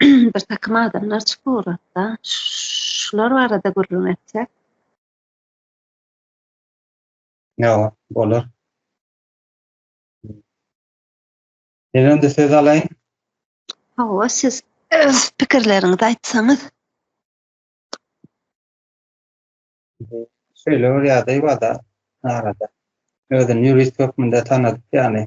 bir takym adamlar çykyp ugrapda. Şular barada gürrüň etsek. Ýa, bolar. Elinde söz alaýyn. Hawa, siz öz pikirleriňizi aýtsaňyz. Şeýle bir ýagdaý barda arada. Özüni ýurist hökmünde tanadyp ýaly.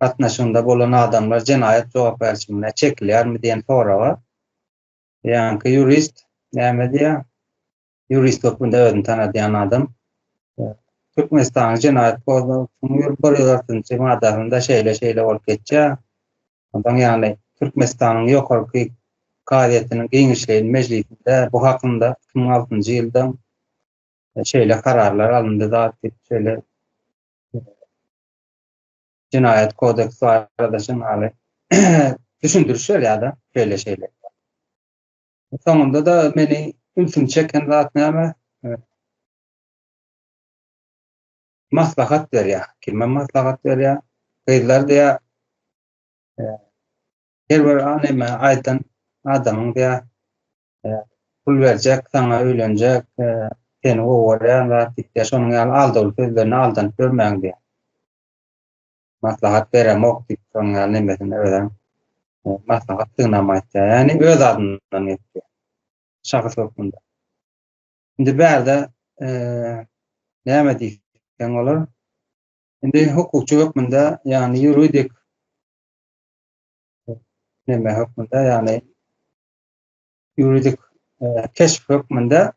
gatnaşygynda bolan adamlar jenaýat jogapkärçiligine çekilýärmi diýen soraga ýaňky ýurist näme diýýär? Ýurist hökmünde özüni tanadýan adam Türkmenistanyň jenaýat kodeksiniň ýüz bir ýüz altynjy maddasynda şeýle-şeýle bolup geçýär. Ondan ýagny Türkmenistanyň ýokarky kazyýetiniň giňişleýin mejlisinde bu hakynda iki müň altynjy ýylda şeýle kararlar alyndy zat diýip şeýle jenaýat kodeks barada şemaly düşündiriş berýär-de, şeýle şeýle. Soňunda da meni ünsümi çeken zat näme? Maslahat berýär. Kime maslahat berýär? Gyzlar diýä her bir anema aýdan adamyň diýä pul berjek, saňa öýlenjek, seni gowy görýän zat diýip, şonuň ýaly aldaw sözlerine aldanyp ýörmäň diýýär. Maslahat beremok diýip, şonuň ýaly nemesini özem maslahat synlama aýtýar. Ýagny öz adyndan etýär. Şahs hökmünde. Indi bärde näme diýseň bolar? Indi hukukçy hökmünde, ýagny ýuridik neme hökmünde, ýagny ýuridik keşp hökmünde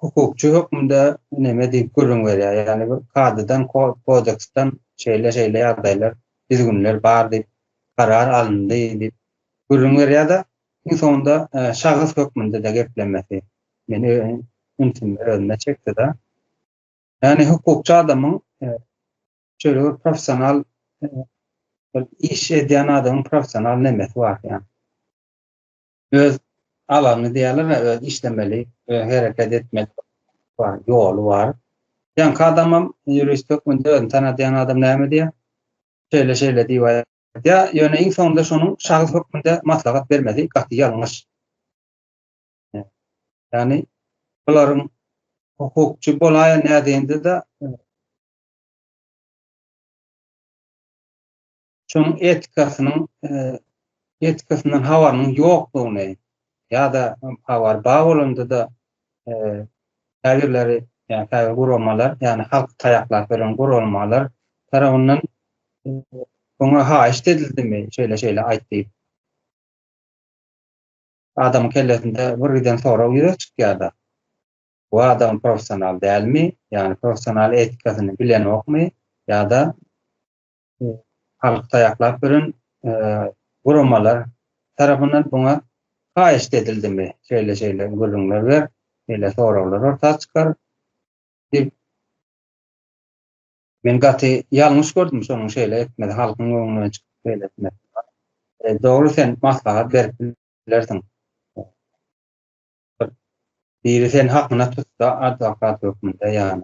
hukukçy hökmünde näme diýip gürrüň berýär. Ýagny bir kadydan, kodeksden şeýle-şeýle ýagdaýlar, düzgünler bar diýip, karar alyndy diýip gürrüň berýär-de, iň soňunda e, şahs hökmünde-de geplemesi meni ünsümi özüne çekdi-de. Ýagny hukukçy adamyň e, şeýle bir professional bir iş edýän adamyň professional nemesi bar ýaly. Öz alany diýerler, öz işlemeli, öz hereket etmeli bar, ýoly bar. Ýaňky adamam ýurist hökmünde özüni tanadýan adam näme diýýär? Şeýle şeýle diýip aýdýar. Ýöne iň soňunda şonuň şahs hökmünde maslahat bermesi gaty ýalňyş. Ýagny bularyň hukukçy bolaýan nädinde-de Şonuň etikasynyň etikasyndan habarynyň ýokdugyny ýa-da habar bar bolanda-da käbirleri ýa-ni käbir guramalar, ýagny halky taýaklap beren guralmalar tarapyndan oňa haýyşt edildimi, şeýle-şeýle aýt diýip. Adamyň kellesinde bir giden sorag ýüze çykýar-da. Bu adam professional dälmi, ýagny professional etikasyny bilenokmy ýa-da halky taýaklap ýören guramalar tarapyndan buňa haýyşt edildimi, şeýle-şeýle gürrüňler ber, şeýle soraglar orta çykar diýip, men gaty ýalňyş gördüm şonuň şeýle etmegi, halkyň öňüne çykyp şeýle etmegi. Dogry sen maslahat berip bilersiň. Gyt. Biri sen hakyna tutsa adwokat hökmünde ýany.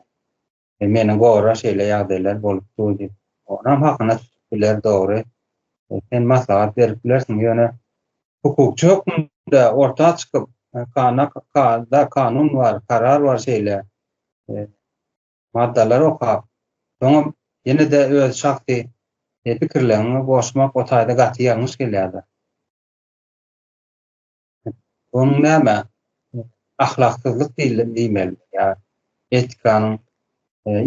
E meni gora şeýle ýagdaýlar bolup dur diýip. Onam hakyna tutup biler dogry. E sen maslahat berip bilersiň ýöne hukukçy hökmünde orta çykyp kana kada kanun bar karar bar şeýle e, maddalar okap soňam ýene de öz şahsy e, pikirlerini goşmak o taýda gaty ýalňyş gelýärdi. Onuň näme ahlaksyzlyk diýildi diýmeli ýa etikanyň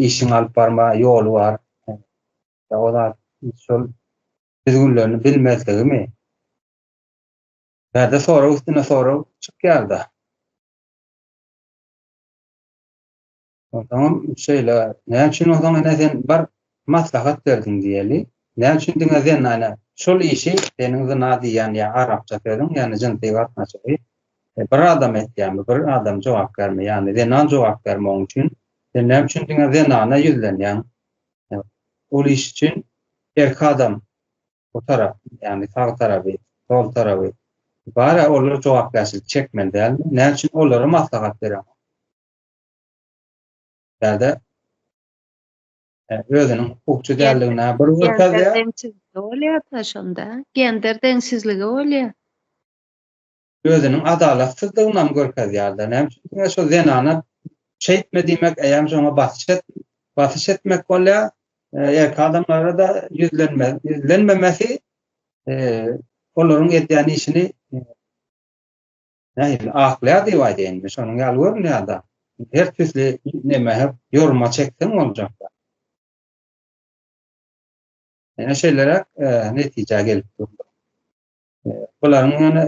işiň alyp barma ýoly bar. Ýa o zat şol düzgünlerini bilmezligimi? Bärde sorag üstüne sorag çykýar-da. Onsoňam şeýle, näme üçin onsoň ene sen bir maslahat berdiň diýeli. Näme üçin diňe zenana şol işi seniň zyna diýýän ýa arapça sözüň, ýagny jynsy gatnaşygy bir adam etýärmi, bir adam jogapkärmi, ýagny zenan jogapkärmi oň üçin? Sen näme üçin diňe zenana ýüzlenýäň? Ol iş üçin erkek adam bu tarap, ýagny sag tarapy, sol tarapy bar-a, olar jogapkärçilik çekmeli dälmi? Näme üçin olara maslahat bereňok? ýa-da özüniň hukukçy däldigine bir görkezýär. Deňsizlik bolýar-da şonda, gender deňsizligi bolýar. Özüniň adalatsyzdygyny hem görkezýär-de. Näme üçin diňe şo zenana şeýtme diýmek, eýýäm şoňa basyş et, basyş etmek bolýar. Erkek adamlara-da ýüzlenme, ýüzlenmemesi olaryň edýän işini Nähili aklýar diýip aýdaýyn men şonuň ýaly görünýärda. Her tüsli neme her ýoruma çekseň boljakda. Ýene şeýleräk netijä gelip durdy. Bularyň ýöne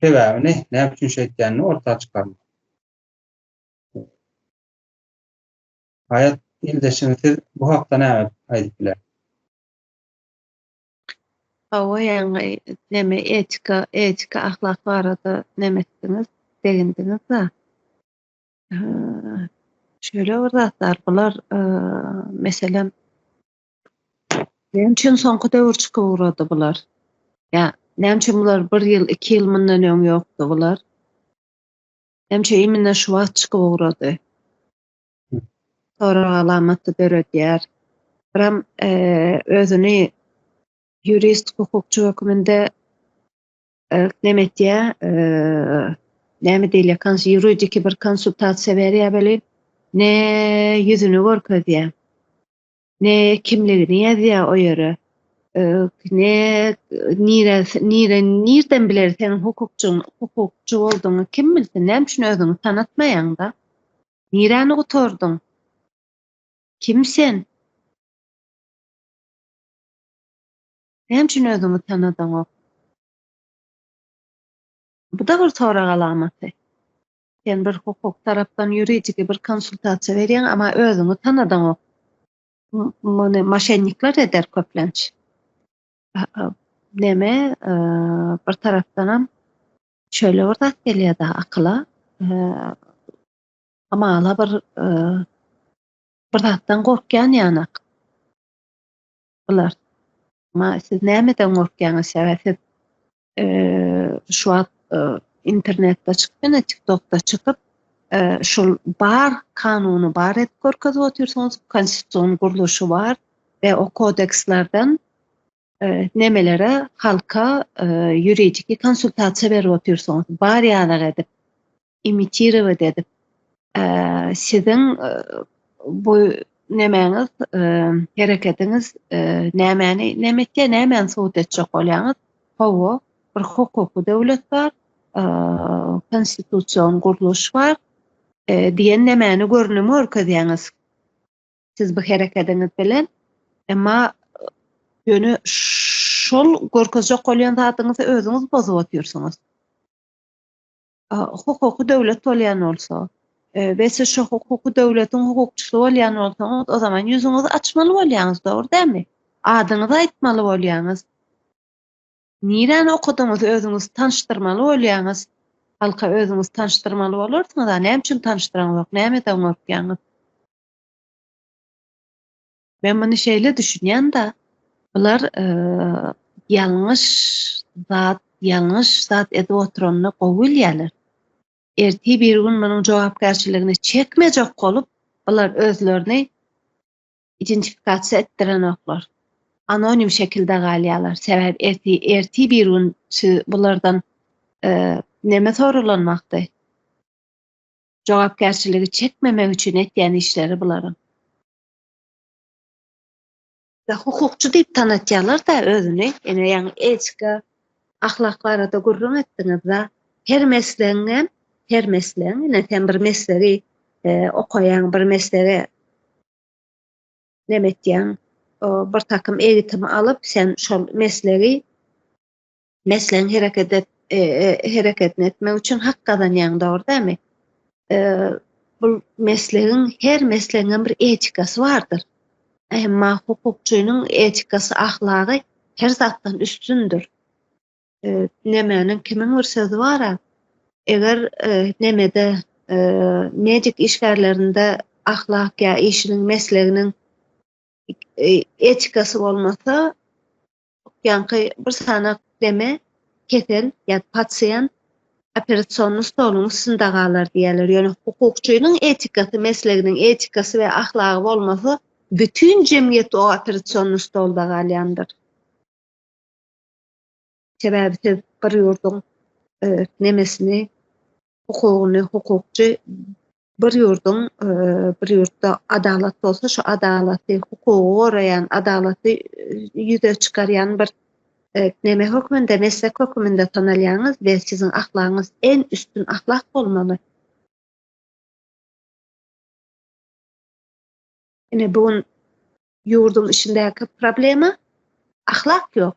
sebäbini näme üçin şeýtýänini orta çykarmak. Haýat ildeşim siz bu hakda näme aýdyp bilersiň? Hawa ýaňy neme etika etika ahlak barada neme etdiňiz degindiňizda şöyle bir zatlar bular meselem näme üçin soňky döwür çykyp ugrady bular ýa näme üçin bular bir ýyl iki ýyl mundan öň ýokdy bular näme üçin imine şu wagt çykyp ugrady sorag alamaty döredýär. Tram özüni ýurist, hukukçy hökmünde näme etýär, näme diýilýär, kans ýuridiki bir konsultasiýa berýär welin, ne ýüzüni görkezýär. ne kimligini ýazýar o ýere. Ne nire nire nirden biler sen hukukçyň hukukçy bolduň kim bilsin näme üçin özüňi tanatmaýaňda. Niräni gutardyň? Kim sen? Näme üçin özüňi tanadaňok? Bu da bir sorag alamaty. Sen bir hukuk tarapdan ýuridiki bir konsultasiýa berýäň, emma özüňi tanadaňok. Muny maşennikler eder köplenç. Neme, bir tarapdanam şöyle bir zat gelýär da akyla, hamala bir bir zatdan gorkýan ýanak. Bular, Ma, siz nämeden gorkýaňyz? Sebäbi siz şu wagt internetde çykyp, ine, TikTokda çykyp, şul bar kanuny bar edip görkezip otyrsyňyz, konstitusion gurluşy bar we o kodekslerden nemelere halka ýuridiki konsultasiýa berip otyrsyňyz, bar ýaly edip. imitirowat edip siziň bu nemäňiz hereketiňiz nämäni näme etýär nämäni subut etjek bolýaňyz hawa bir hukuky döwlet bar konstitusion gurluş bar diýen nämäni görnüm görkezýäňiz siz bu hereketiňiz bilen emma ýöne şol görkezjek bolýan zadyňyzy özüňiz bozup otyrsyňyz hukuky döwlet bolýan bolsa we siz şu hukuky döwletiň hukukçysy bolýan bolsaňyz, o zaman ýüzüňizi açmaly bolýaňyz, dogry dämi? Adyňyzy aýtmaly bolýaňyz. Niräni okadyňyz, özüňizi tanşdyrmaly bolýaňyz. Halka özüňizi tanşdyrmaly bolarsyňyz, näme üçin tanşdyraňyz, näme edip okýaňyz? Men muny şeýle düşünýän-de, bular ýalňyş zat, ýalňyş zat edip oturanyny gowy bilýärler. Ertir bir gün munuň jogapkärçiligini çekmejek bolup, bular özlerini identifikasiýa etdirenoklar. Anonim şekilde galýarlar. Sebäbi erti, erti bir gün siz bulardan e, neme soralanmakdy? Jogapkärçiligi çekmemek üçin etýän işleri bularyň. Ya hukukçy diýip tanatýarlar-da özüni. Ine ýaňy etika, ahlak barada gürrüň etdiňiz-de. Her meslegiňem, her meslegiň, ine sen bir meslegi okaýaň, bir meslege neme etýäň, bir takym egitim alyp, sen şol meslegi meslegiň hereket et, e, e, hereketini etmek üçin hak gazanýaň, dogry dämi? E, bu meslegiň her meslegiň bir etikasy bardyr. Emma hukukçynyň etikasy, ahlagy her zatdan üstündür. E, nemäniň kimiň bir sözi bar-a? Eger e, nemede e, medik işgärlerinde ahlak ýa işiniň mesleginiň e, etikasy bolmasa, Ýaňky bir sanak deme kesel ýa pasiýent operasion stoluň üstünde galar diýýärler. Ýöne hukukçynyň etikasy, mesleginiň etikasy we ahlagy bolmasa, bütin jemgyýet o operasion stolda galýandyr. Sebäbi siz bir ýurduň nemesini hukugyny hukukçy bir ýurduň bir ýurtda adalat bolsa şu adalaty hukugy goraýan adalaty ýüze çykarýan bir neme hökmünde meslek hökmünde tanalýaňyz we siziň ahlagyňyz en üstün ahlak bolmaly. Ine bu gün ýurduň içindäki problema ahlak ýok.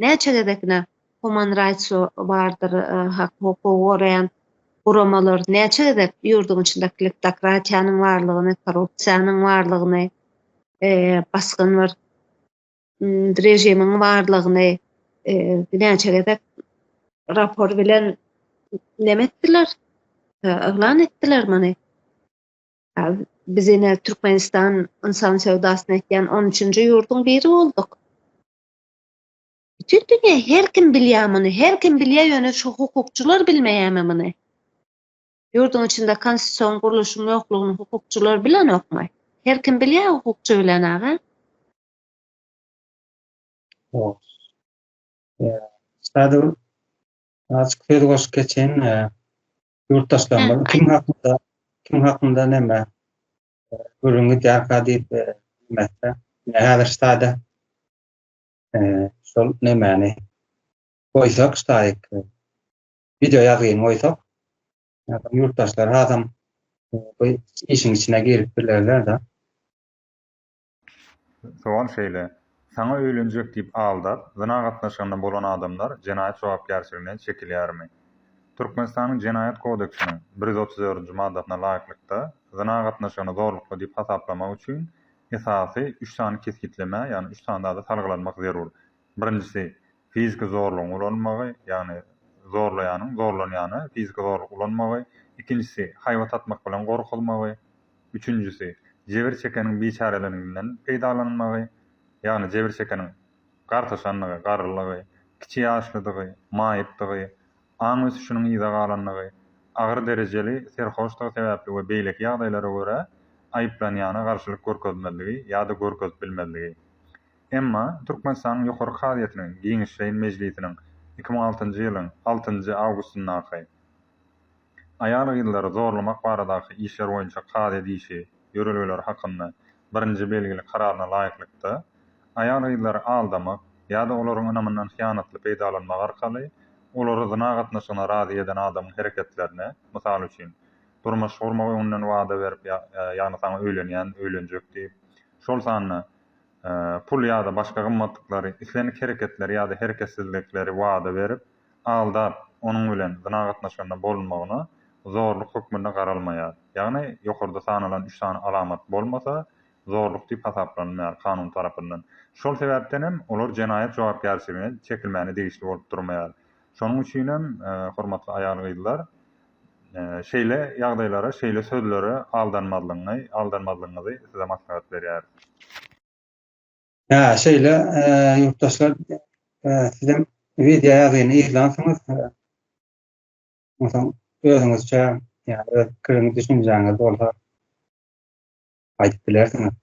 Näçe gezek ine Human Rights bardyr hak hukugy goraýan guramalar näçe gezek ýurduň içinde kleptokratiýanyň barlygyny, korrupsiýanyň barlygyny, basgyn bir režimiň barlygyny näçe gezek rapor bilen neme etdiler, yglan etdiler muny. Biz ine Türkmenistan ynsan söwdasyny etýän on üçünji ýurduň biri bolduk. Bütin dünýä her kim bilýär muny, her kim bilýär, ýöne şu hukukçylar bilmeýärmi muny? Ýurduň içinde konstitusion gurluşyň ýoklugyny hukukçylar bilenokmy? Her kim bilýär, hukukçy bilen aga. Sadr, açyk söz goşup geçen, ýurtdaşlarymyz kim hakynda, kim hakynda näme Gürrüňi därka diýip bilmekde. Häzir ştada şol nemäni goýsak ştaýyk video ýazgyny goýsak ýurtdaşlar adam işiň içine girip bilerler-de. Sowal şeýle, Saňa öýlenjek diýip aldap, zyna gatnaşygynda bolan adamlar jenaýat jogapkärçiligine çekilýärmi? Türkmenistanyň Jenaýat kodeksiniň bir ýüz otuz dördünji maddasyna laýyklykda, zyna gatnaşygyny zorlukly diýip hasaplamak üçin esasy üç sany kesgitlemä, ýagny üç sany zada salgylanmak zerur. Birinjisi, fiziki zorlugyň ulanylmagy, ýagny zorlaýanyň zorlanýana fiziki zorluk ulanmagy, ikinjisi, haýbat atmak bilen gorkuzmagy, üçünjisi, jebir çekeniň biçäreliginden peýdalanylmagy, ýagny jebir çekeniň gartaşandygy, garrylygy, kiçi ýaşlydygy, maýypdygy, aň ösüşiniň yza galandygy, agyr derejeli serhoşdygy sebäpli we beýleki ýagdaýlara görä aýyplanýana garşylyk görkezmezligi ýa-da görkezip bilmezligi. Emma Türkmenistanyň Ýokary kazyýetiniň giňişleýin mejlisiniň iki müň altynjy ýylyň altynjy awgustyndaky Aýal-gyzlary zorlamak baradaky işler boýunça kazy edişi ýörelgeleri hakynda birinji belgili kararyna laýyklykda, aýal-gyzlary aldamak ýa-da olaryň ynamyndan hyýanatly peýdalanmak arkaly olary zyna gatnaşygyna razy eden adamyň hereketlerine, mysal üçin, durmuş gurmak öňünden wada berip, ýagny saňa öýlenýän, öýlenjek diýip, şol sanda, pul ýa-da başga gymmatlyklary, islendik hereketleri ýa-da hereketsizlikleri wada berip, aldap, onuň bilen zyna gatnaşygynda bolunmagyna zorluk hökmünde garalmaýar. Ýagny, ýokarda sanalan üç sany alamat bolmasa, zorluk diýip hasaplanylmaýar kanun tarapyndan. Şol sebäpden hem olar jenaýat jogapkärçiligine çekilmäne degişli bolup durmaýar. Şonuň üçin hem, hormatly aýal-gyzlar, Şeýle ýagdaýlara, şeýle sözlere aldanmazlygyňy, aldanmazlygyňyzy size maslahat berýäris. Hä, şeýle, ýurtdaşlar, sizem wideo ýazyny yzlansyňyz, onsoň özüňizçe, ýa-da öz pikiriňiz, düşünjäňiz bolsa aýdyp bilersiňiz.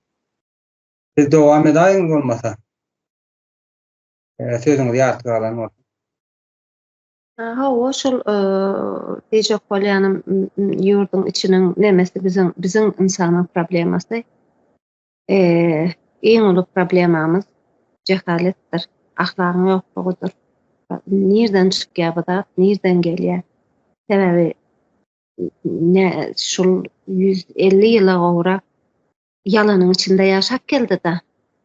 Siz dowam edäýiň bolmasa. Sözüňiz ýarty galan bolsa. Hawa, şol diýjek bolýanym, ýurduň içiniň nemesi biziň, biziň ynsanlar problemasy. Iň uly problemamyz jehaletdir, ahlagyň ýoklugydyr. Nirden çykýar bu zat, nirden gelýär? Sebäbi ne şul ýüz elli ýyla gowrak Ýalanyň içinde ýaşap geldi-da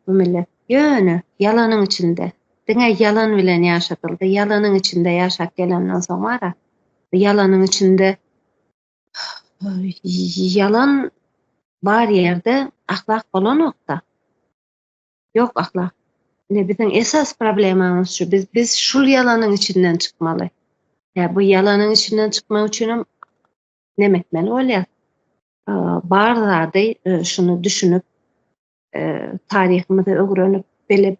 bu millet. Ýöne ýalanyň içinde, diňe ýalan bilen ýaşadyldy. Ýalanyň içinde ýaşap gelenden soň bar-a, ýalanyň içinde ýalan bar ýerde ahlak bolanok-da. Ýok ahlak. Ine biziň esas problemamyz şu. Biz biz şul ýalanyň içinden çykmaly. Ýa bu ýalanyň içinden çykmak üçin hem näme etmeli bolýar? bar zady şuny düşünip, taryhymyzy öwrenip bilip,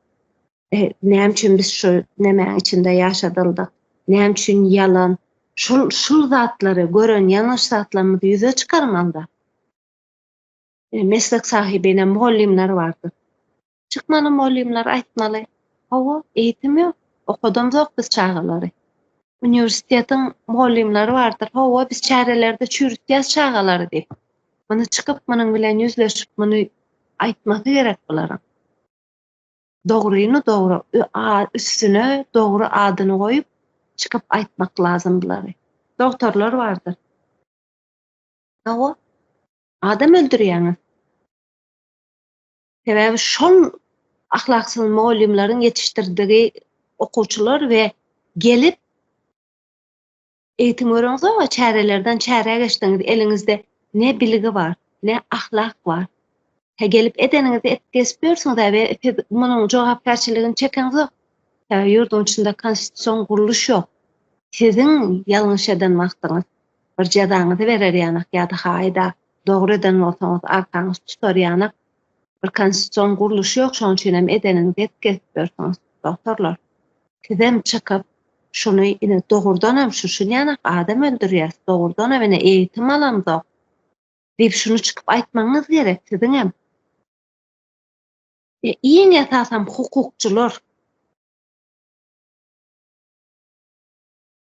näme üçin biz şu nemäň içinde ýaşadyldyk, näme üçin ýalan, şul şul zatlary gören ýalňyş zatlarymyzy ýüze çykarmalyda. Meslek sahybine mugallymlar bardyr. Çykmaly molymlar aýtmaly. Hawa, eýitim ýok. Okadamzok biz çagalary. Uniwersitetiň molymlary bardyr. Hawa, biz çärelerde çüýrütýäs çagalary diýip. Muny çykyp, munuň bilen ýüzleşip, muny aýtmasy gerek bularyň. Dogryny dogry, üstüne dogry adyny goýup, çykyp aýtmak lazym bulary. Dogtorlar bardyr. Hawa, adam öldürýäňiz. Sebäbi şol ahlaksyz mugallymlaryň ýetişdirdigi okuwçylar we gelip eýitim görüňiz o çärelerden çärä geçdiňiz eliňizde ne bilgi bar ne ahlak bar he gelip edeniňizde et kesip ýörsüňiz we siz munuň jogapkärçiligini çekeňiz ýok ýurduň içinde konstitusion gurluş ýok siziň ýalňyş eden wagtyňyz Bir jezaňyzy berer ýanak ýa-da haýda dogry eden bolsaňyz arkaňyz tutar ýanak bir konstitusion gurluş ýok şoň üçinem edeniňizi edip gezip ýörsüňiz doktorlar sizem çykyp şuny ine dogurdanam şu şun ýanak adam öldürýäs dogurdanam ine eýitim alamzok diýip şuny çykyp aýtmagyňyz gerek siziňem e iň esasam hukukçylar.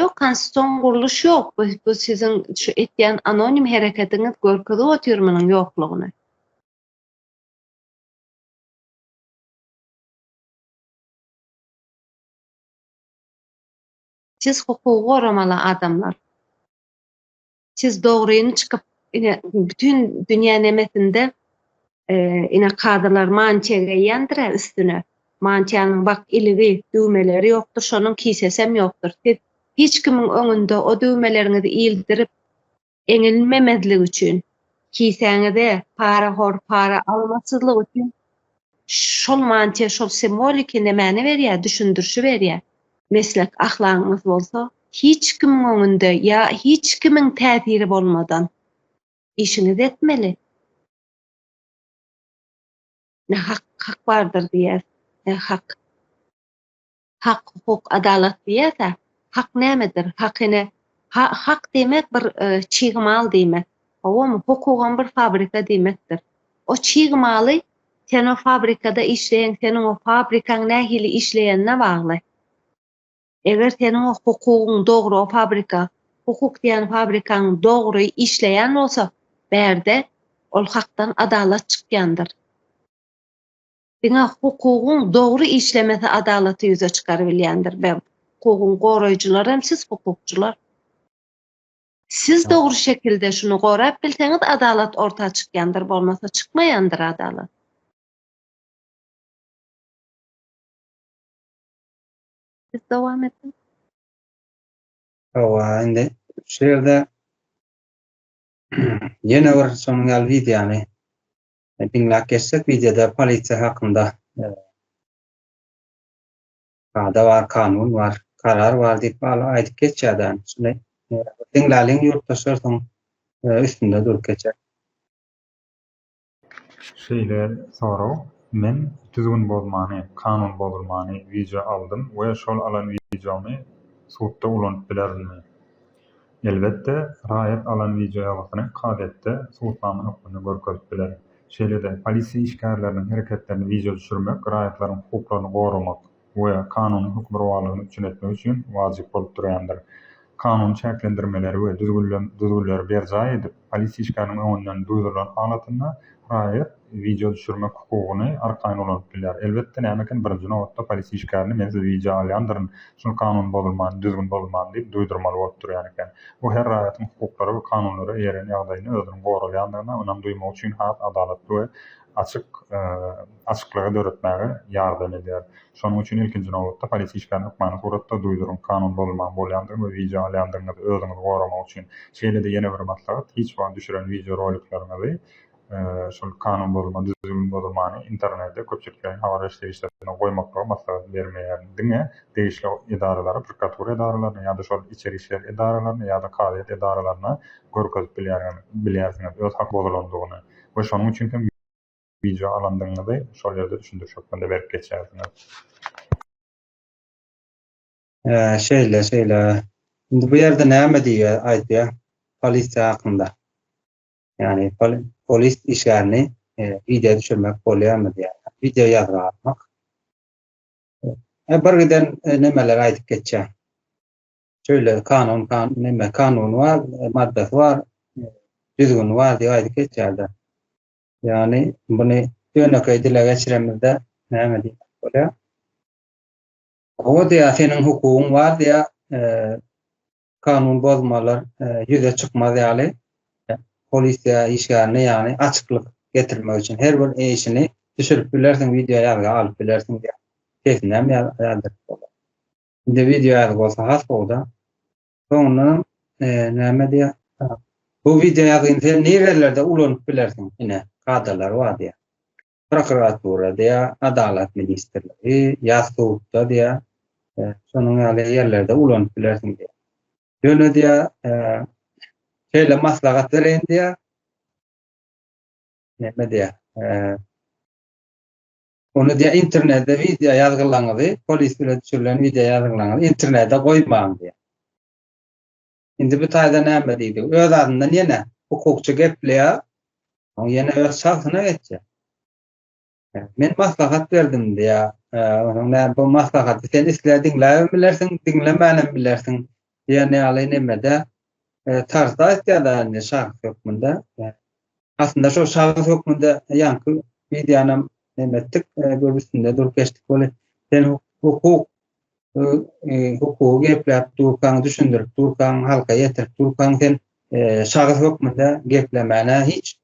Ýok, konstitusion gurluş ýok. Bu, bu siziň şu etýän anonim hereketiňiz görkezip otyr munuň ýoklugyny. Siz hukugy goramaly adamlar. Siz dogryny çykyp ine bütün dünýä nemesinde e, ine kadylar mantiýa geýýändir üstüne. Mantiýanyň bak iligi, düwmeleri ýokdur, şonuň kisesem ýokdur. Siz hiç kimiň öňünde o düwmeleriňizi ildirip eňilmemezlik üçin, kisäňize para hor, para almasyzlyk üçin Şol mantyýa şol simwoliki ne mäne berýär, düşündirişi berýär. Meslek ahlagyňyz bolsa, hiç kimiň öňünde ýa hiç kimiň täsiri bolmadan işiňizi etmeli. Ne hak, hak bardyr diýýär, ne hak. Hak, hukuk, adalat diýýäs-ä. Hak nämedir? Hak ine, hak diýmek bir çig mal diýmek. Howamy? Hukugam bir fabrika diýmekdir. O çig maly sen o fabrikada işleýäň, seniň o fabrikaň nähili işleýänine bagly. Eger seniň o hukugyň dogry, o fabrika, hukuk diýýän fabrikaň dogry işleýän bolsa, bärde ol hakdan adalat çykýandyr. Diňe hukugyň dogry işlemesi adalaty ýüze çykarybilýändir we hukugyň goraýjylar hem siz hukukçylar. Siz dogry şekilde şuny gorap bilseňiz adalat orta çykýandyr bolmasa çykmaýandyr adalat. Siz dowam ediň. Hawa, indi şu ýerde ýene bir şonuň ýaly wideony Diňläp geçsek wideoda polisiýa hakynda kada bar, kanun bar, karar bar diýip hala aýdyp geçýär däl. Şuny diňläliň ýurtdaşlar soň üstünde durup geçer. Şeýle sorag, Men düzgün bozmany, kanun bozulmany wideo aldym we şol alan wideomy sudda ulanyp bilerinmi? Elbetde, raýat alan wideoýazgysyny kazyýetde subutnama hökmünde görkezip biler. Şeýle-de, polisiýa işgärleriniň hereketlerini wideo düşürmek raýatlaryň hukuklaryny goramak we kanunyň hökmürowalygyny üpjün etmek üçin wajyp bolup durýandyr. Kanuny çäklendirmeleri we düzgünleri berjaý edip, polisiýa işgäriniň öňünden duýdurylan halatynda raýat, wideo düşürmek hukugyny arkaýyn ulanyp bilýär. Elbetde, näme eken, birinji nobatda polis işgärini men sizi wideo alýandyryn, şol kanun bozulman, düzgün bozulman diýip duýdurmaly bolup durýan eken. Bu her raýatyň hukuklara we kanunlara eýerýän ýagdaýynda özüniň goralýandygyna ynam duýmagy üçin has adalatly we açyk açyklygy döretmäge ýardam edýär. Şonuň üçin ilkinji nobatda polis işgärini hökmany suratda duýduryň, kanun bozulman bolýandygyny we wideo alýandygyňyzy özüňizi goramak üçin. Şeýle-de ýene bir maslahat, hiç wagt düşüren wideo rolikleriňizi şol kanun bozulma, düzgün bozulmany internete, köpçülikleýin habar beriş serişdelerine goýmaklygy maslahat bermeýärin. Diňe degişli edaralary, prokuratura edaralaryny ýa-da şol içeri işler edaralaryny ýa-da kazyýet edaralaryny görkezip bilýärin, bilýärsiňiz öz hak bozulandygyny we şonuň üçin hem wideo alandygyňyzy şol ýerde düşündiriş hökmünde berip geçýärsiňiz. Hä, şeýle, şeýle. Indi bu ýerde näme diýýär, aýdýar polisiýa hakynda? Yani polis işgärini e, video düşürmek bolýarmy diýýär. Video ýazga atmak. E, bir giden e, nemeler aýdyp geçýär. Şöyle kanun kan neme kanun var, e, maddasy var, e, düzgün var diýip aýdyp geçýärler. Yani bunu ýönekeý dile geçiremizde näme diýip bolýar? O diýär, seniň hukugyň bar diýär, e, kanun bozmalar ýüze çykmaz ýaly polisiýa işgärine ýagny açyklyk getirmek üçin her bir işini düşürip bilersiň wideo ýazga alyp bilersiň diýýär. Sesinem ýazdyryp bolar. Indi wideo ýazgy bolsa has gowda. Soňundan näme diýýär? Bu wideo ýazgyny sen nirelerde ulanyp bilersiň? Ine, kadalary bar diýýär. prokuratura diýä, adalat ministrligi, ýa sudda diýä, e, şonuň ýaly ýerlerde ulanyp bilersiň diýä. Ýöne diýä, e, şeýle maslahat bereýin diýä. Näme diýä? E, Onu diýä internetde wideo ýazgylaňyzy, polis bilen düşürilen wideo ýazgylaňyzy internetde goýmaň diýä. Indi bu taýda näme diýdi? Öz adyndan ýene hukukçy gepleýär. Soň ýene öz çagsyna geçýär. Men maslahat berdim diýýär. Onuň näme bu maslahaty sen isle diňläbem bilersiň, diňlemänem bilersiň diýen ýaly nemede tarzda aýtýar-da indi şahs hökmünde. Aslynda şol şahs hökmünde ýaňky wideonam neme etdik, göbüsinde durup geçdik weli sen hukuk hukugy gepläp durkaň, düşündirip durkaň, halka ýetirip durkaň, sen şahys hökmünde geplemäne hiç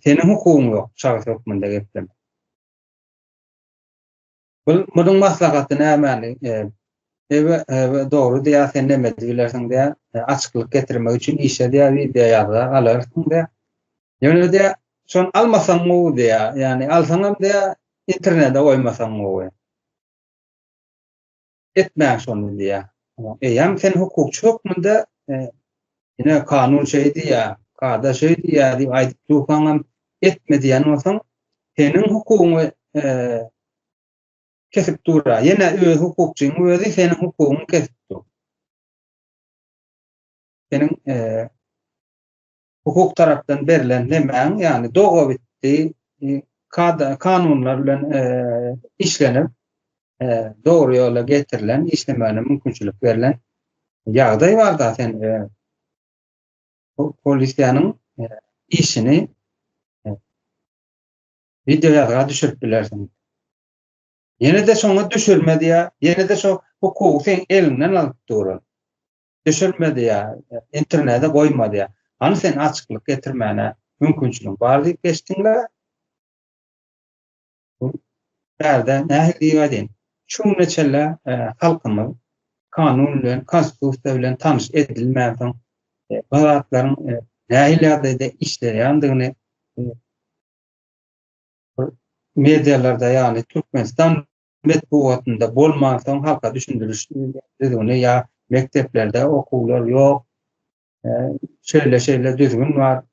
seniň hukugyň ýok şahys hökmünde geplemäne. Bul munuň maslahaty nämäni Ebe, ebe, dogry diýýär, sen näme edip bilersiň diýýär, açyklyk getirmek üçin işe diýýär, wideo ýazga galarsyň diýýär. Ýöne diýýär, şony almasaň gowy diýýär, ýagny alsaňam diýýär, internete goýmasaň gowy. etmäň şony diýýär. Eýýäm sen hukukçy hökmünde ine kanun şeý diýýär, kada şeý diýýär diýip aýdyp dursaňam etme diýen bolsaň, seniň hukugyňy kesip dura. Ýene öz hukukçyň özi seniň hukugyňy kesip dur. Seniň hukuk tarapdan berlen nemäň, ýagny dogabitdi kada, kanunlar bilen işlenip, dogry ýola getirilen, işlemäne mümkinçilik berlen ýagdaý bar da sen polisiýanyň işini video ýazga düşürip bilersiň. Ýene-de şoňa düşürme diýýär, ýene-de şo hukugy sen elinden alyp duran. düşürmedi ya internete goýmady ya hany sen açyklyk getirmäne mümkinçiligiň bar diýip geçdiň la Bärde nähili diýip aýdaýyn. Şu güne çenli e, halkymyz kanun bilen, konstitusiýa bilen tanyş edilmän soň e, bu zatlaryň e, nähili ýagdaýda işleýändigini medialarda ýagny Türkmenistan metbugatynda bolmansoň halka düşündiriş düzgüni ýa mekdeplerde okuwlar ýok, şeýle-şeýle düzgün bar,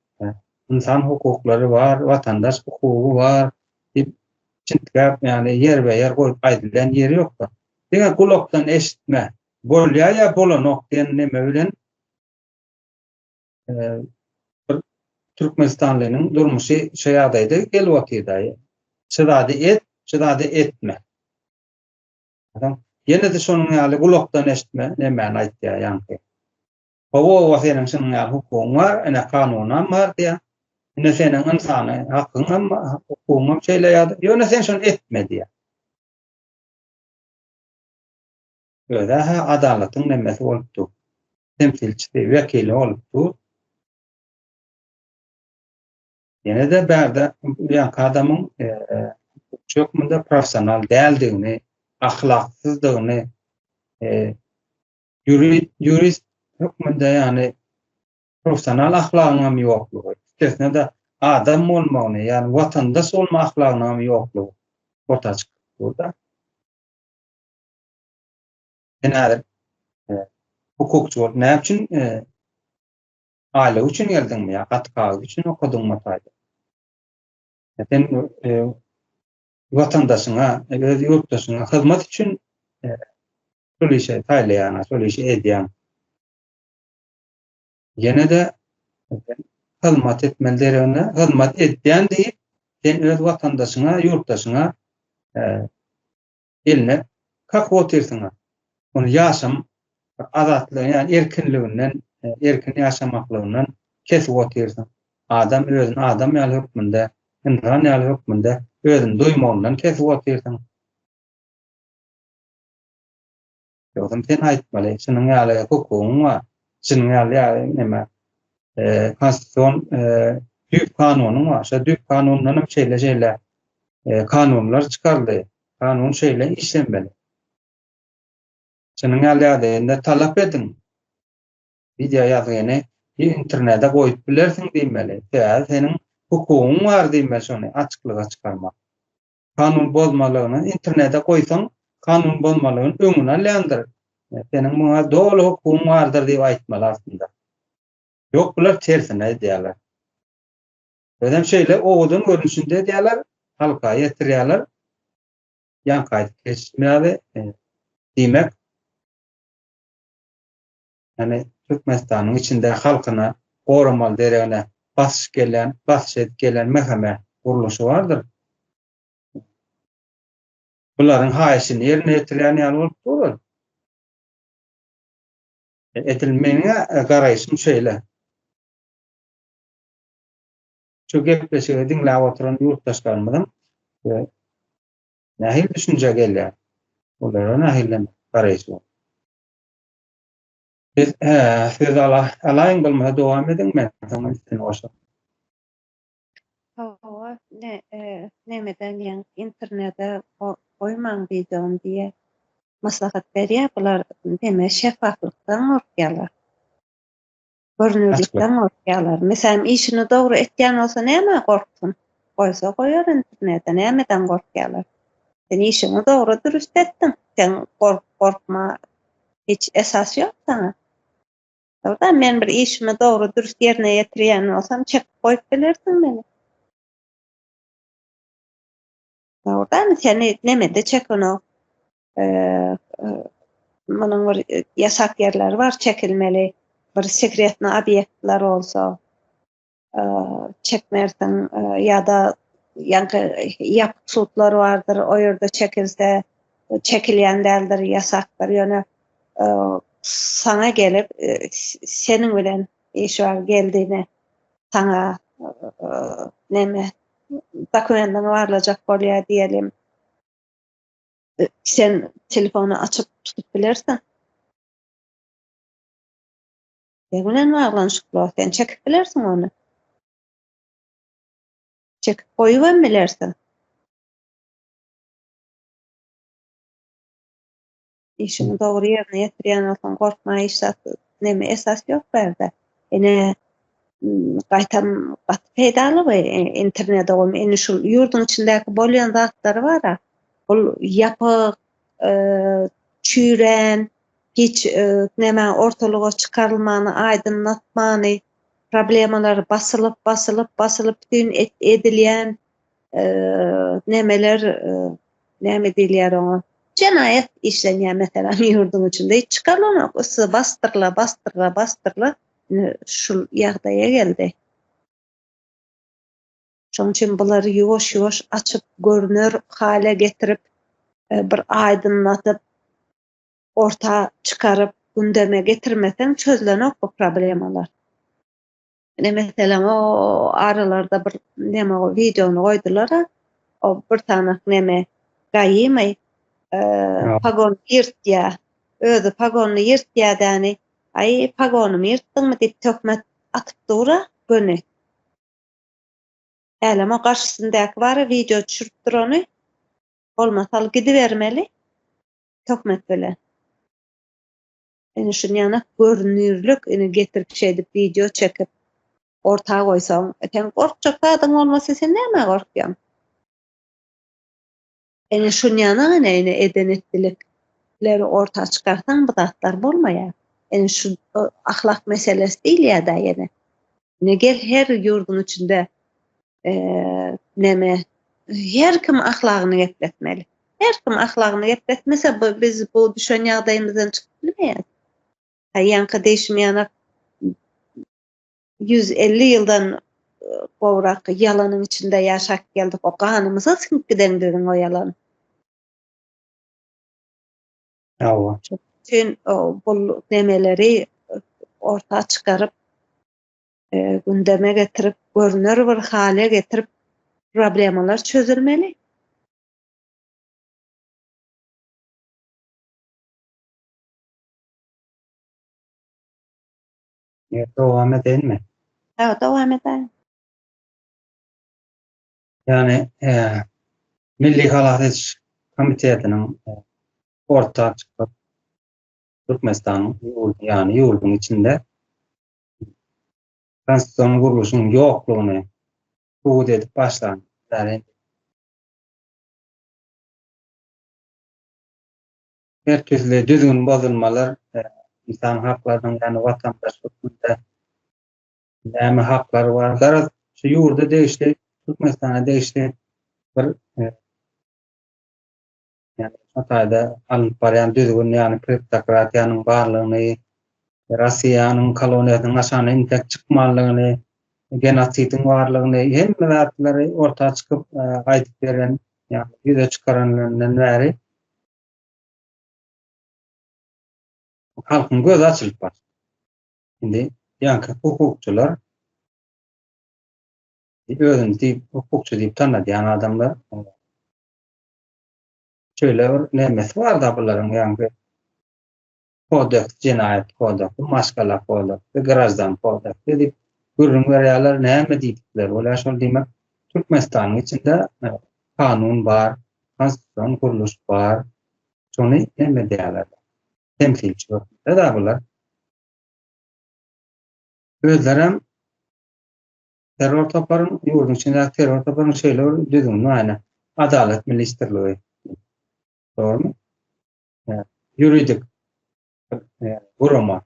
ynsan hukuklary bar, watandaş hukugy bar diýip çintgäp, ýagny ýerbe-ýer goýup aýdylýan ýeri ýokdur. Diňe gulakdan eşitme, bolýar ýa bolanok diýen neme bilen bir türkmenistanlynyň durmuşy şu ýagdaýda gelip otyrdy. Şu zady et, şu zady etme. Adam ýene-de şonuň ýaly gulakdan eşitme, nemäni aýtýar ýaňky. Hawa, hawa seniň şunuň ýaly hukugyň bar, ene kanunam bar diýär. Ine seniň ynsany hakyň hem hukugyň hem şeýle ýa-da ýöne sen şony etme diýär. Özi-hä adalatyň nemesi bolup dur. Temsilçisi, wekili bolup dur. Ýene-de bärde bu ýaňky adamyň hukukçy hökmünde professional däldigini, ahlaksyzdygyny, ýurist hökmünde ýagny professional ahlagynyňam ýoklugy, üstesine-de adam bolmagyny, ýagny watandaş bolma ahlagynyňam ýoklugy orta çykyp dur-da. Sen häzir e, hukukçy bolup näme üçin e, aýlyk üçin geldiňmi ýa gat kagyz üçin okadyňmy taýda? E, sen e, watandaşyňa, e, öz ýurtdaşyňa hyzmat üçin e, şol işe taýlaýaň, şol işi edýäň. Ýene de e, hyzmat etmeli deregine, hyzmat edýän diýip, sen öz watandaşyňa, ýurtdaşyňa e, eline kak otyrsyňa ony ýaşam azatlygy ýa erkinliginden erkin ýaşamaklygyndan kesip otyrsyň adam özüni adam ýaly hökmünde ynsan ýaly hökmünde özüni duýmagyndan kesip otyrsyň. Ýogsam sen aýtmaly, şunuň ýaly hukugyň bar, şunuň ýaly ýaly näme e, konstitusion e, düýp kanunyň bar. Şo düýp kanundan hem şeýle şeýle e, kanunlar çykaryldy. Kanun şeýle işlemeli. Şunuň ýaly ýagdaýynda talap ediň. Wideo ýazgyny internete goýup bilersiň diýmeli. Sebäbi seniň hukugyň bar diýmeli şony açyklyga çykarmak. kanun bozmalygyny internete goýsaň, kanun bozmalygyny öňüni alýandyr. Seniň muňa doly hukugyň bardyr diýip aýtmaly aslynda. Ýok bular tersine edýärler. Özem şeýle owadan görnüşinde edýärler, halka ýetirýärler. Ýanka aýdyp geçmeýärdi. E, diýmek, Ýani Türkmenistanyň içinde halkyna goramaly deregine basyş gelen, basyş edip gelen mhme gurluşy bardyr. Bularyň haýyşyny ýerine ýetirýän ýaly bolup durur. Edil meniňä garaýşym şeýle. Şu gepleşigi diňläp oturan ýurtdaşlarymyzyň nähili düşünje gelýär? Olara nähili garaýyş bar? Biz söz alaýyň bolmasa dowam ediň men soň üstüni goşaryn. Hawa ne nemeden ýeň internede goýmaň wideony diýe maslahat berýä bular deme şefaflykdan gorkýalar. Görnürlikden gorkýarlar. Meselem, işini dogry etýän bolsa näme gorksun? Goýsa goýar internete, nämeden gorkýarlar? Sen işiňi dogry dürüst etdiň. Sen gork, gorkma. Hiç esas ýok saňa. Ýogda men bir işimi dogry dürüst ýerine ýetirýän bolsam, çekip goýup bilersiň meni. Ýogda seni nemede çekenok. munuň bir ýasak ýerleri bar çekilmeli, bir sekretnyý obýektler bolsa, çekme ersiň ýa-da ýaňky ýapyk sudlar bardyr, o ýerde çekilse, çekilýän däldir, ýasakdyr, ýöne saňa gelip, seniň bilen iş bar, geldigiňe saňa neme, dokumendiňi barlajak bolýar diýelim. e, sen telefony açyp tutup bilersen. Ne bilen baglanyşykly sen çekip bilersiň ony. Çekip goýup hem bilersiň. işini dogry ýerine ýetirýän bolsaň gorkma hiç zat neme esas ýok bärde. Ene gaýtam gaty peýdaly we e, internet ogam indi şu ýurduň içindäki bolýan zatlary bar. Ol ýapyk, çüýrän, hiç näme ortalyga çykarylmany, aýdyňlatmany, problemalary basylyp, basylyp, basylyp bütin edilýän nämeler, näme diýilýär oňa, jenaýat işlenýär meselem ýurduň içinde, hiç çykarylanok, ysy basdyryla, basdyryla, basdyryla, indi şul ýagdaýa geldi. Şonuň üçin bulary ýuwaş-ýuwaş açyp, görner hala getirip, bir aýdyňladyp, orta çykaryp, gündeme getirmeseň çözlenok bu problemalar. Ine, meselem, o aralarda bir neme o wideony goýdular-a, o bir sany neme, gaýymy, pagon ýyrtýa, özi pagony ýyrtýa däni, aý, pagonymy ýyrtdyňmy diýip töhmet atyp dur-a, göni. Älem o garşysyndaky bara wideo düşürip durany bolmasa al gidibermeli töhmet bilen. Ene şun ýana görünirlik ene getirip şeýdip wideo çekip orta goýsaň sen gorkjak zadyň bolmasa sen nämä gorkýaň? Ene şunýana gene ene eden etdilikleri orta çykarsaň bu zatlar bolmaýar. Ene şu ahlak meselesi diýilýär-de ýene. Ne gel her ýurduň içinde näme her kim ahlagyny gepletmeli. Her kim ahlagyny gepletmese biz bu düşen ýagdaýymyzdan çykyp bilmeýäris. Aýanka deýşim ýanak 100 elli ýyldan gowrak ýalanyň içinde ýaşap geldik o ganymyza siňip giden biziň o ýalan Hawa. Sen bu nemeleri orta çykaryp gündeme getirip görner bir hale getirip problemalar çözülmeli. Ýa dowam edeýinmi? Hawa, dowam edäýiň. Ýagny, Milli halas ediş komitetiniň orta çykyp, Türkmenistanyň ýurdy, ýagny ýurduň içinde konstitusion gurluşyň ýoklugyny subut edip başlan Her türli düzgün bozulmalar ynsan haklarynyň, ýagny watandaş hökmünde näme haklary bar? Garaz, şu ýurda degişli, Türkmenistana degişli bir ýagny şu taýda alnyp barýan düzgün, ýagny kleptokratiýanyň barlygyny, Russiýanyň koloniýasynyň aşagyna intek çykmanlygyny, genosidiň barlygyny, hemme zatlary orta çykyp aýdyp beren, ýagny ýüze çykaranlaryndan bäri Halkyň gözi açylyp başlady. Indi ýaňky hukukçylar özüni diýip hukukçy diýip tanadýan adamlar şeýle bir nemesi barda bularyň ýaňky Kodeks, Jenaýat kodeksi, Maşgala kodeksi, Graždan kodeksi diýip gürrüň berýärler. Näme diýdikleri bolýar şol diýmek. Türkmenistanyň içinde kanun bar, konstitusion gurluş bar. Şony näme edýärler? Temsilçi hökmünde-dä bular. Özlerem terror toparyň, ýurduň içindäki terror toparyň şeýle bir düzgüni bar ine. Adalat ministrligi. Dogrumy? ýuridik gurama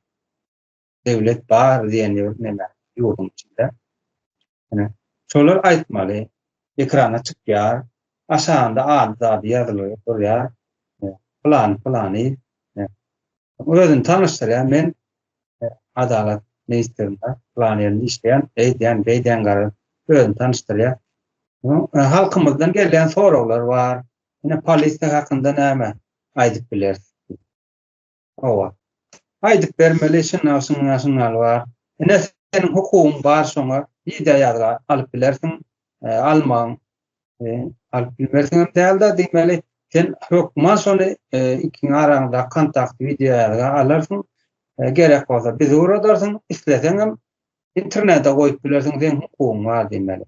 döwlet bar diýen ýurtda ýurduň içinde. Ýöne şolar aýtmaly, ekrana çykýar, aşagynda ady zady ýazylyp durýar. Plan plany özüni tanyşdyrýar. Men adalat ministrinde plan ýerinde işleýän, eýdýän, beýdýän garry özüni tanyşdyrýar. Halkymyzdan gelýän soraglar bar. Ine polisiýa hakynda näme aýdyp bileris biz. Hawa. Aýdyp bermeli şunda şunda şundaly bar. Ine seniň hukugyň bar şoňa wideo ýazga alyp bilersiň almaň alyp bilmersiňem dälde diýmeli sen hökman şony ikiňiň araňyzdaky kontakt wideo ýazga alarsyň gerek bolsa bizi ugradarsyň isleseňem internete goýup bilersiň seň hukugyň bar diýmeli.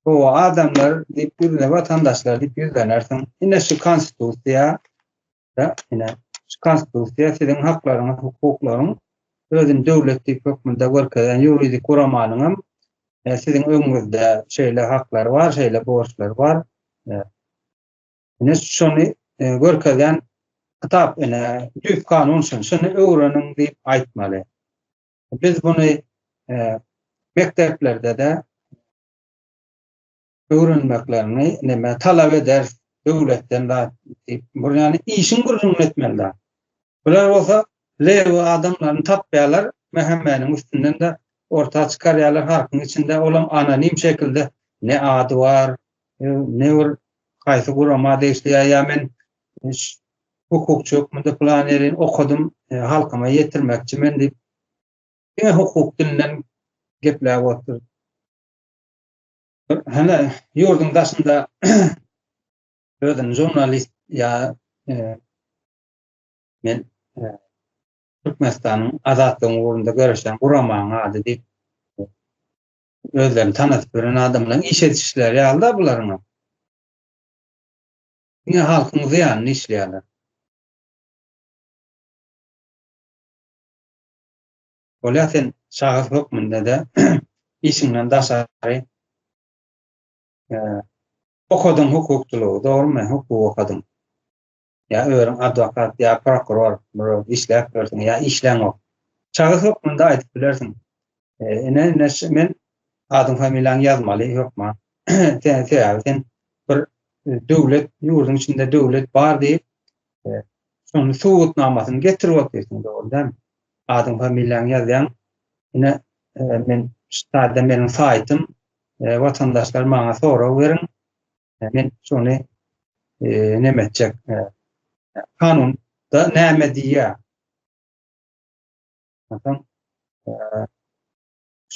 O adamlar diýip ýüzüne watandaşlar diýip ýüzlenersiň. Ine şu konstitusiýa da ine şu konstitusiýa siziň haklaryňyz, hukuklaryň özüni döwlet diýip hökmünde görkezen ýuridik guramanyň hem e, siziň öňüňizde şeýle haklar bar, şeýle borçlar bar. E, ine şony e, görkezen kitap ene düz kanun şun şuny öwreniň diýip aýtmaly. Biz muny mekdeplerde-de öwrenmeklerini näme talap eder döwletden da diýip, bu ýany işiň gürrüňini etmelidir. Bular bolsa leýwa adamlaryny tapýarlar, mähemmäniň üstünden de orta çykarýarlar halkyň içinde, olam anonim şekilde ne ady bar, ne bir haýsy gurama degişli ýa men hukukçy hökmünde plan ýeri okadym, e, halkyma ýetirmekçi men diýip, diňe hukuk dilinden gepläp otur. Hana ýurduň daşynda özüni jurnalist ýa e, men e, Türkmenistanyň azatlygyň ugrunda göreşen guramaň ady diýip özlerini tanadyp gören adamlaryň iş edişleri ýaly-da bularyň. Diňe halkyň zyýanyna işleýärler. Bolýa sen şahys hökmünde-de işiňden daşary okadyň hukukçylygy, dogrumy? Hukuk okadyň. Ýa özüň adwokat, ýa prokuror, bir işläp ýörsiň, ýa işleňok. Şahys hökmünde aýdyp bilersiň. Ene, ene, men adyň familiýaň ýazmaly ýokma. Sen sebäbi sen bir e, döwlet ýurduň içinde döwlet bar diýip, e, şony subutnamasyny getirip oturýarsyň dogrudan. Adyň familiýaň ýazýaň. Ene, e, men ştaýda meniň saýtym, watandaşlar maňa sorag beriň. Men şony näme etjek? Kanun da näme diýýär? Onsoň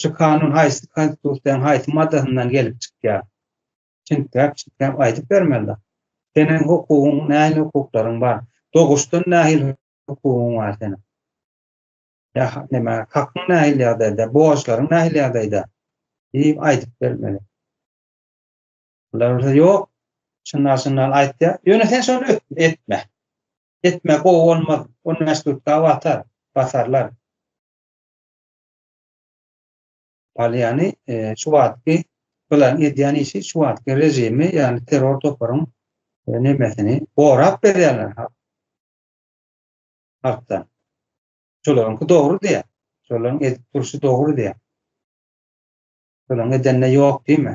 şu kanun haýsy konstitusiýanyň haýsy maddasyndan gelip çykýar? Çinträk çinträk aýdyp bermeli. Seniň hukugyň, nähili hukuklaryň bar? Doguşdan nähili hukugyň bar seniň? Ýa näme, hakyň nähili ýagdaýda, borçlaryň nähili ýagdaýda? diýip aýdyp bermeli. Bular bolsa ýok. Şundan şundan aýtýar. Ýöne sen şony etme. Etme, gowy bolmaz. On bäş tutka batar, basarlar. Palyany şu wagtky bulan edýän işi şu wagtky režimi, ýagny terror toparyň nemesini gorap berýärler ha. Halkdan. Şolaryňky dogry diýär. Şolaryň edip durşy dogry diýär. Şolaryň edende ýok diýme.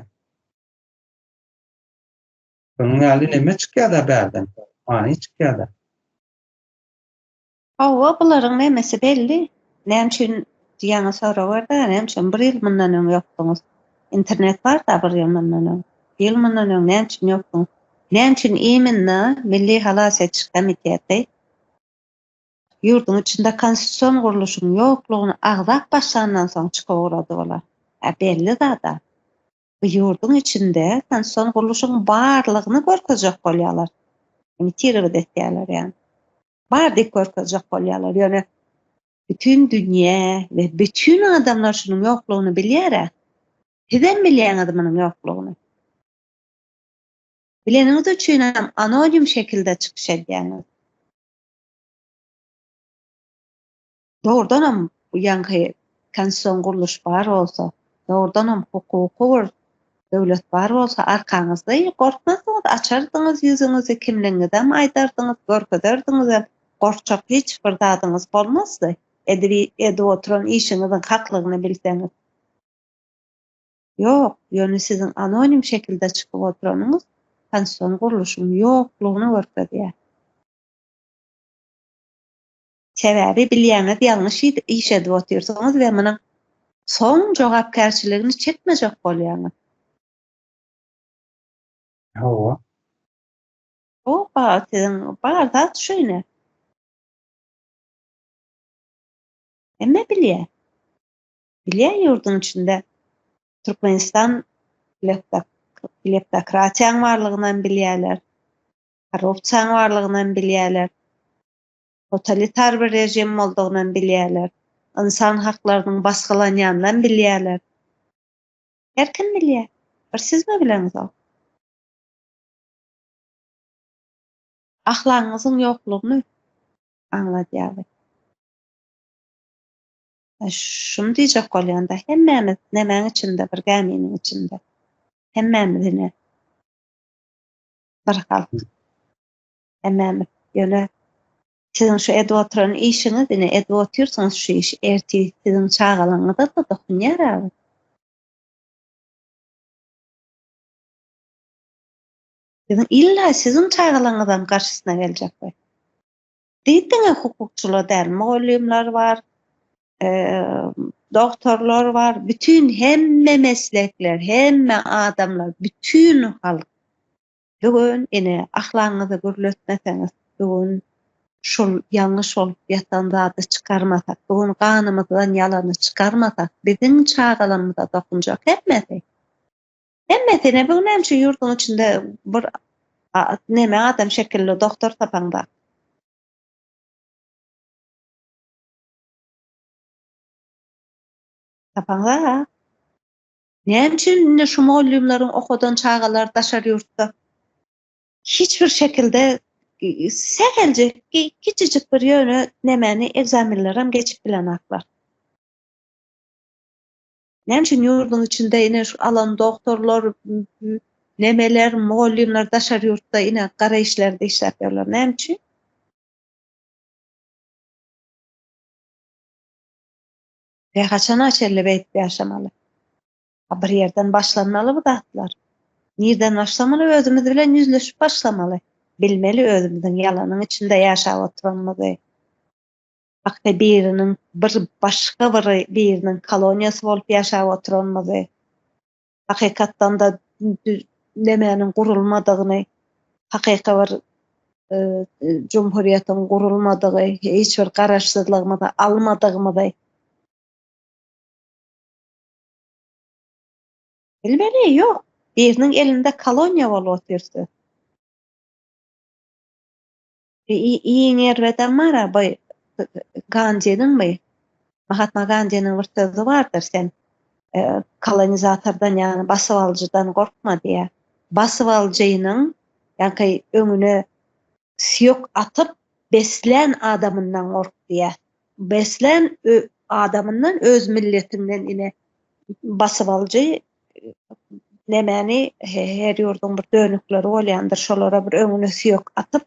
Şonuň ýaly neme çykýada bärden? Many çykýada. Hawa, bularyň nemesi belli. Näme üçin diýýäňe sorag ber-dä, näme üçin bir ýyl mundan öň ýokduňyz? Internet bar-da bir ýyl mundan öň. Bir ýyl mundan öň näme üçin ýokduňyz? Näme üçin iminna Milli halas ediş komiteti ýurduň içinde konstitusion gurluşyň ýoklugyny agzap başlandan soň çykyp ugrady olar? Hä, belli zat-a. bu ýurduň içinde sanson gurluşygyň barlygyny görkezjek bolýarlar. Imitirowyt etýärler ýa. Bar diýip görkezjek bolýarlar. Ýöne bütün dünýä we bütün adamlar şunuň ýoklugyny bilýär-ä. Sizem bilýäňiz munuň ýoklugyny. Bileniňiz üçin hem anonim şekilde çykyş edýäňiz. Dogrudanam bu ýaňky konstitusion gurluş bar bolsa, dogrudanam hukuky bir döwlet bar bolsa arkaňyzda gorkmazdyňyz, açardyňyz ýüzüňizi, kimligiňizem aýdardyňyz, görkezerdiňizem, gorkjak hiç bir zadyňyz bolmazdy. Edip oturan işiňiziň haklygyny bilseňiz. Ýok, ýöne siziň anonim şekilde çykyp oturanyňyz konstitusion gurluşyň ýoklugyny görkezýär. Sebäbi bilýäňiz ýalňyş iş edip otyrsyňyz we munuň soň jogapkärçiligini çekmejek bolýaňyz. Hawa. Oba, siziň bar zat şeýle. Hemme bilýär. Bilýär ýurduň içinde Türkmenistan kleptokratiýaň barlygyny hem bilýärler. Korrupsiýaň barlygyny hem bilýärler. totalitar bir režim boldugynam bilýärler, ynsan haklarynyň basgylanýanynam bilýärler. Her kim bilýär. Bir sizmi bileňzok? Ahlagyňyzyň ýoklugyny aňladýar bu. Şuny diýjek bolýan-da, hemmämiz nämäň içinde, bir gäminiň içinde. Hemmämiz ine, bir halk. Hemem ýöne siziň şu edip oturan işiňiz, ine edip otyrsyňyz şu işi, ertir siziň çagalaryňyza-da dokunýar agyr. Siziň illa siziň çagalaryňyzam garşysyna geljek we diýdiňe hukukçylar däl, mugallymlar bar, doktorlar bar, bütin hemme meslekler, hemme adamlar, bütin halk. Bigün ine ahlaňyzy gürletmeseňiz bigün şul ýalňyş bolup ýatan zady çykarmasak bigün ganymyzdan ýalany çykarmasak biziň çagalarymyza dokunjak hemmesi. Hemmesi ine bigün hem şu ýurduň içinde bir neme adam şekilli doktor tapaň bak. Tapaň bak. Näme üçin indi şu mugallymlaryň okadan çagalar daşary ýurtda hiç bir şekilde säheljek kiçijik bir ýöne nemäni ekzamenlerem geçip bilenaklar. Näme üçin ýurduň içinde ine şu alan doktorlar, nemeler, mugallymlar daşary ýurtda ine gara işlerde işläp ýörler. Näme üçin? Ve haçana çelle beýdip ýaşamaly? Ha bir ýerden başlanmaly bu zatlar. Nirden başlamaly? Özümiz bilen ýüzleşip başlamaly. Bilmeli özümiziň ýalanyň içinde ýaşap oturanymyzy. Hakda biriniň bir başga bir biriniň koloniýasy bolup ýaşap oturanymyzy. hakykatdan da nemäniň gurulmadygyny, hakyky bir e, jumhuriýetiň gurulmadygy, hiç bir garaşsyzlygymyzy almadygymyzy Bilmeli, ýok. Biriniň elinde koloniýa bolup otyrdy. Iň erbedem bar-a, baý, Gandiniňmi? Mahatma Gandiniň bir sözi bardyr, sen kolonizatordan, ýagny basybalyjydan gorkma diýýär. Basybalyjynyň, ýa-da öňüne süýek atyp beslän adamyndan gork diýýär. Beslän adamyndan, öz milletiňden ine basybalyjy Nämäni her ýurduň bir dönükleri bolýandyr, şolara bir öňüne süýek atyp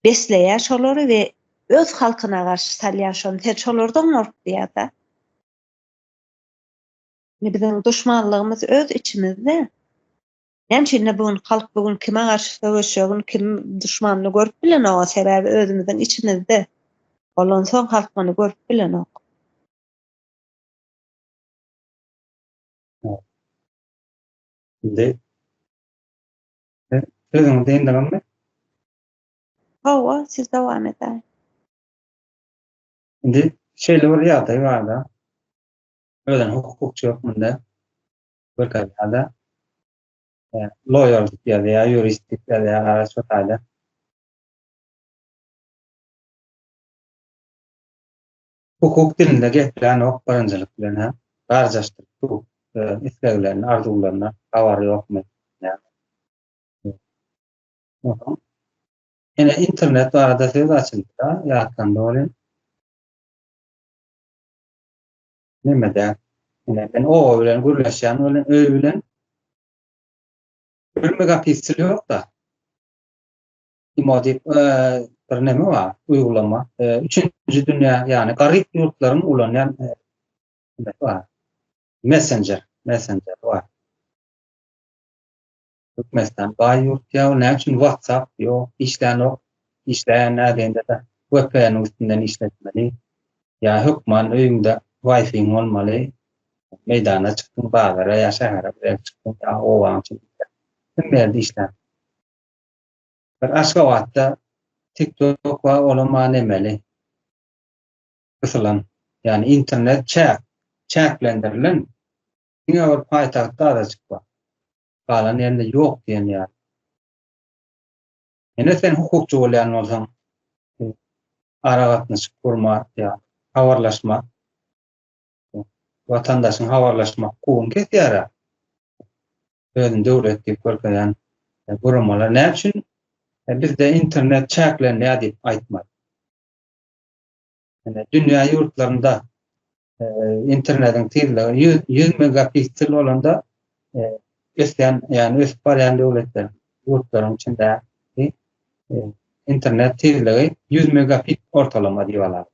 besleýär şolary we öz halkyna garşy salýar şony. Sen şolardan gork diýýär-de. Indi biziň duşmanlygymyz öz içimizde. Näme üçin-de bu gün halk bu gün kime garşy söweşjegini, kim duşmanyny görüp bilenok, sebäbi özümiziň içimizde. Bolansoň halk muny görüp bilenok. Indi sözüňi dyndygyňmy? Hawa, siz dowam edäň. Indi şeýle bir ýagdaý barda, özüni hukukçy hökmünde görkezýärde, loýer diýip ýazýar, ýurist diýip ýazýar, gara şu taýda. Hukuk dilinde geplänok birinjilik bilen hem garjaşdyryp dur öz isleglerini arzuwlaryny habary ýokmy Soňam ine internet barada söz açyldyda ýatlanda bolýa. Nemede ine men oba bilen gürleşýän bilen öý bilen bir megapiksil ýokda. imo diýip bir näme bar, uýgulama. Üçünji dünýä, ýagny garyp ýurtlaryň ulanýan bar. Messenger, messenger bar. Türkmenistan baý ýurt ýa näme üçin WhatsApp ýok, işlänok, işleýän nädende-de VPN-iň üstünden işletmeli. Ýa hökman öýüňde Wi-Fi bolmaly. Meýdana çykdyň, bazara ýa şähere çykdyň, ýa obaň içinde. Hemme ýerde işlär. Bir Aşgabatda tik tok bar olam maňa nemeli. Gysylan. Ýani internet çäk. Çäklendirilen. Diňe bir paýtagtda azajyk bar. Galan ýerinde ýok diýen ýaly. Ine sen hukukçy bolýan bolsaň aragatnaşyk gurmak ýa habarlaşmak watandaşyň habarlaşmak hukugyny kesýär-ä. Özüni döwlet diýip görkezýän guramalar näme üçin bizde internet çäklenýär diýip aýtmady? Ýöne dünýä ýurtlarynda internetiň tizligi ýüz ýüz megapiksel bolanda ösýän ýagny ösüp barýan döwletler ýurtlaryň içinde internet tizligi ýüz megapik ortalama diýip alarys.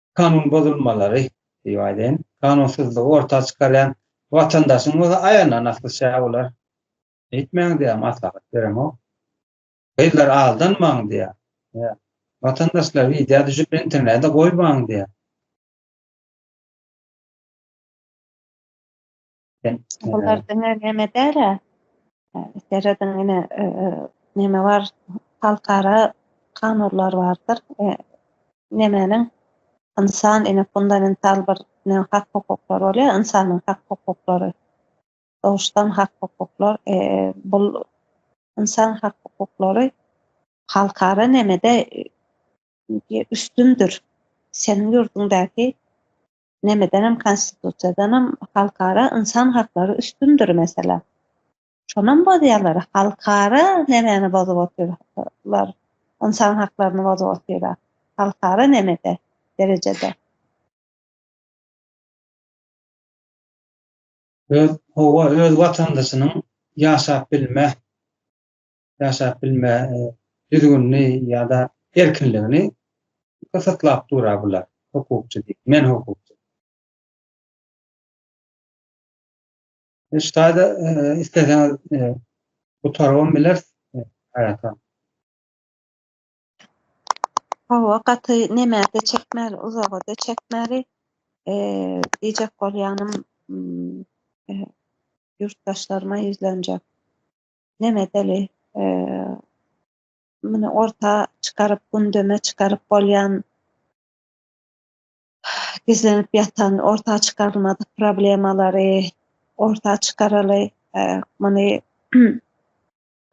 kanun bozulmalary diýip aýdaýyn, kanunsyzlygy orta çykarýan watandaşyň bolsa aýagyna nasl şä bolar. Eýtmäň diýýär, maslahat beremok. Gyzlary aldanmaň diýýär. Ýa, watandaşlar wideo düşüp internede goýmaň diýýär. Bular diňe näme däl-ä? Serediň ine näme bar? Halkara kanunlar bardyr. Nämäniň? Ynsan ine fundamental bir hak hukuklar bolýar, ynsanyň hak hukuklary. Doguşdan hak hukuklar, bu ynsan hak hukuklary halkara nämede üstündir? Seniň ýurduňdaky nemedenem konstitusiýadanam halkara ynsan haklary üstündir meselem. Şonam bozýarlar, halkara nämäni bozup otyrlar, ynsan haklaryny bozup otyrlar, halkara nämede, derejede. Öz, howa öz watandaşynyň ýaşap bilme ýaşap bilme düzgünini ýa-da erkinligini gysgytlap dura bular, hukukçy diýip, men hukukçy. Ştaýda isleseňiz gutarybam bileris, aýratyn. Hawa, gaty neme-de çekmeli, uzaga-da çekmeli. Diýjek bolýanym, ýurtdaşlaryma ýüzlenjek. Nemedeli muny orta çykaryp, gündeme çykaryp bolýan gizlenip ýatan orta çykarylmadyk problemalary orta çykaraly. Muny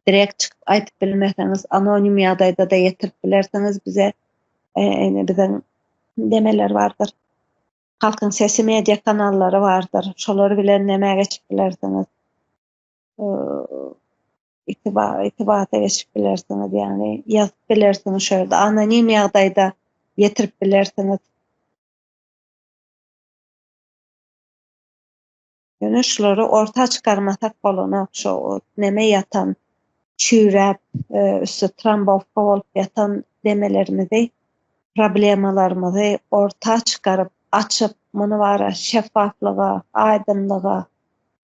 direkt çykyp aýdyp bilmeseňiz, anonim ýagdaýda-da ýetirip bilersiňiz bize. Ine biziň nemeler bardyr. Halkyň sesi media kanallary bardyr. Şolar bilen näme geçip bilersiňiz. itibata geçip bilersiňiz, ýagny ýazyp bilersiňiz şo ýerde, anonim ýagdaýda ýetirip bilersiňiz. Ýöne şulary orta çykarmasak bolanok, şo neme ýatan, çüýräp, e, üsti trombowka bolup ýatan demelerimizi, problemalarymyzy orta çykaryp, açyp, muny bara şeffaflyga, aýdyňlyga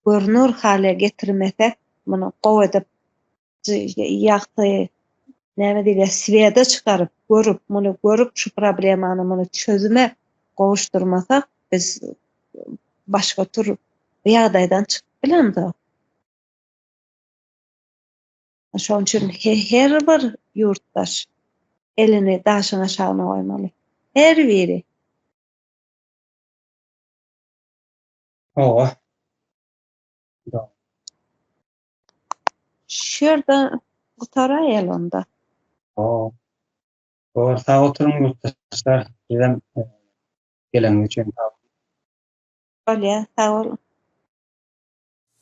görner hale getirmesek, muny gowy edip, ýagty, näme diýilýär, swede çykaryp, görüp, muny görüp, şu problemany muny çözüme gowuşdyrmasak, biz başga tür bu ýagdaýdan çykyp bilemzok. Şonuň üçin her bir ýurtdaş elini daşyň aşagyna goýmaly. Her biri. Hawa. Şu ýerde gutaraýaly onda. Hawa. Hawa, sag oturyň ýurtdaşlar. Sizem geleniňiz üçin sag boluň. Bolýa, sag boluň.